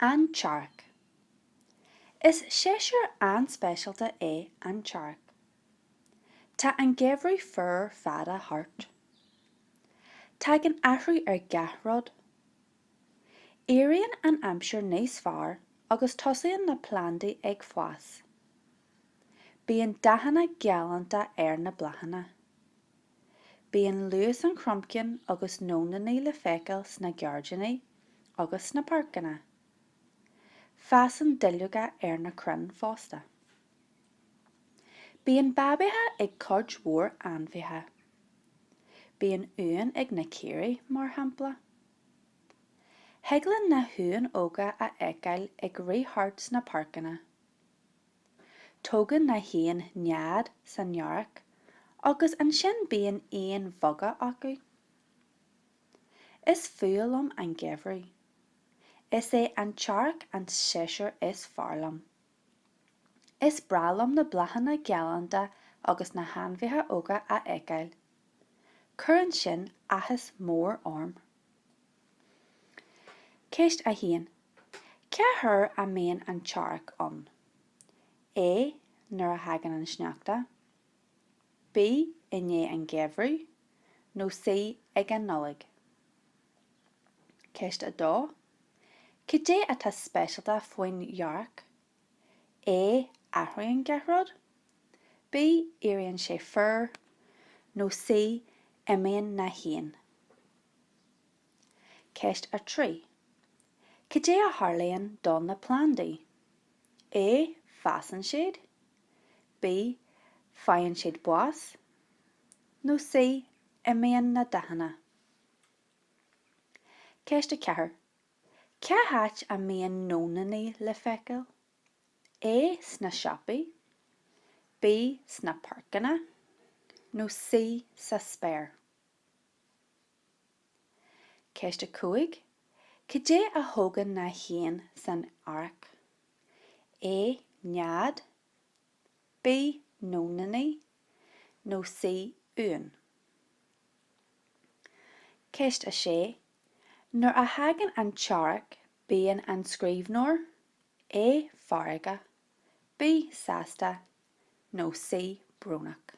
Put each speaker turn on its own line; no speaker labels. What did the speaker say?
An tEarrach. Is séasúr an-speisialta é an t-earrach. Tá an geimhreadh fuar fada thart. Tagann athrú ar gach rud. Éiríonn an aimsir níos fearr agus tosaíonn na plandaí ag fás. Bíonn dathanna galánta ar na bláthanna. Bíonn lus an chromchinn agus nóniní le feiceáil sna gairdíní agus sna páirceanna. Fásann duilleoga ar na crainn fosta. Bíonn babaithe ag cuid mhór ainmhithe. Bíonn uain ag na caoirigh, mar shampla. Thig linn na huain óga a fheiceáil ag rith thart sna páirceanna. Tógann na héin nead san earrach agus ansin bíonn éin bheaga acu. Is fuath liom an geimhreadh. Is é an t-earrach an séasúr is fearr liom. Is breá liom na bláthanna galánta agus na hainmhithe óga a fheiceáil. Cuireann sin áthas mór orm. Ceist 1, Cá huair a mbíonn an t-earrach ann? A, Nuair a thagann an sneachta. B, I ndiaidh an gheimhridh nó C, Ag an Nollaig. Ceist 2, Cad é atá speisialta faoin earrach? A, Athraíonn gach rud. B, Éiríonn sé fuar. Nó C, Imíonn na héin. Ceist 3. Cad é a tharlaíonn do na plandaí? A. Fásann siad. B. Faigheann siad bás. Nó C. Imíonn na dathanna. Ceist 4. Cá háit a mbíonn nóiníní le feiceáil? A. Sna siopaí. B. Sna páirceanna. Nó C. Sa spéir. Ceist 5, Cad é a thógann na héin san earrach? A nead, B nóiníní nó C uain? Ceist 6, Nuair a thagann an t-earrach bíonn an scríbhneoir, A feargach, B sásta, nó C Brónach.